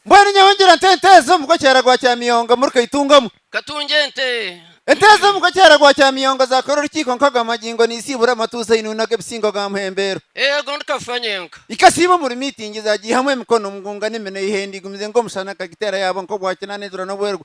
Mbwenu nyowe ngira nte ente ezo omugo kyera gwa kyamiyongo muri kaitungamu. Katungye ente. Ente ezo omugo kyera gwa kyamiyongo zakora orukiiko nkago amagingo niziibura amatuuzi ainunu ag'ebisingo ga muhembeero. Eego ndi kafa nyenka. Ikasiiba omuri miitingi zagiihamu emikono omu ngunga n'eminwa eiha endi igumize nk'omushana kagiteera yaaba nk'obwakinaana enjura n'obwerwa.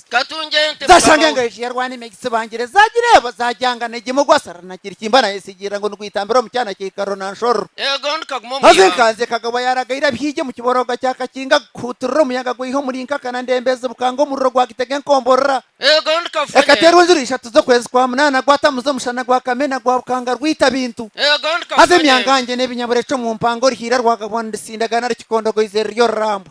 Zaashanga engayo egi yarwana ime gitsibangire, zaagira eba, zaagyangana egi mugwa sarara na kirikimba naayesigirira ngu nigwitambira omu kyana kya ikaro na nshororo. Haza enkanzi ekagabwa yaaraga ira bihigi omu kiborooga kya Kakinga, gukuhuutirira omuyaga gwiha omuri Nkaka na Ndembeezi bukanga omuriro gwagitega enkomborora. Ekateerwa enjura ishatu z'okwezi kwa munaana, gwatamuza omushana gwa kamena gwa bukanga rwita bintu. Haza emyangangye n'ebinyaburecu omu mpanga orihiira rwagabwa nirusindagana rukikondogoize ruri orurambwa.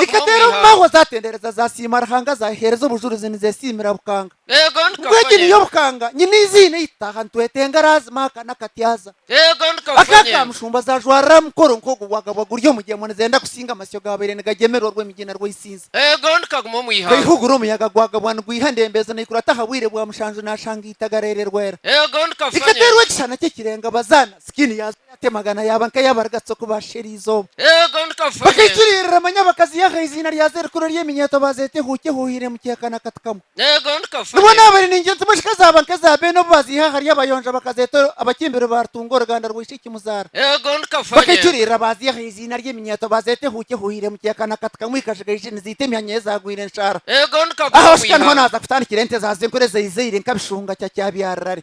Nikateera omu mahwa zaatendereza zaasiima Ruhanga zaaheereza obujurizi nizeesiimira Bukanga. Ngu egi niyo Bukanga nyine eiziina ei tutaha nitwetenga araazima aka n'akatyaza. Aka ka Mushumba zaajwarira aha mukoro nk'ogu bwagabwa guri omugyemo nizenda kusinga amasyo gaabaire nigagyemerwa orw'emigyina rw'eisinza. Kweihugura omuyaga gwagabwa nigwiha ndembezo naikurata aha bwire bwa mushanju naashanga eitaga reererwera. Rikateerwa ekishushana ky'ekirenga bazaana sikiini yaazo. Ati, Amagana yaaba nka yaaba arigatsi oku baashera eizooba. Bakaikiririra manya bakaziha aha iziina ryazo erikuru ery'eminyeeto baazeeta ehuuki ehuuhiire mu kiheka na kati kamwe. Nibwo naaba ari naingi nti mashika zaaba nka eza beene obu baaziha ahari abayonja bakazeeta abakimbiri ba Rutunga oruganda rwa Ishiki Muzaara. Bakaikiririra baaziha aha iziina ry'eminyeeto baazeeta ehuuki ehuuhiire mu kiheka na kati kamwe ikajiga iji niziita emihanya ye zaagwire enshaara. Aha oshusha niho naaza kutandikira ente za senkuru ezaizaire nka Bishunga kya Kyabyarira ari.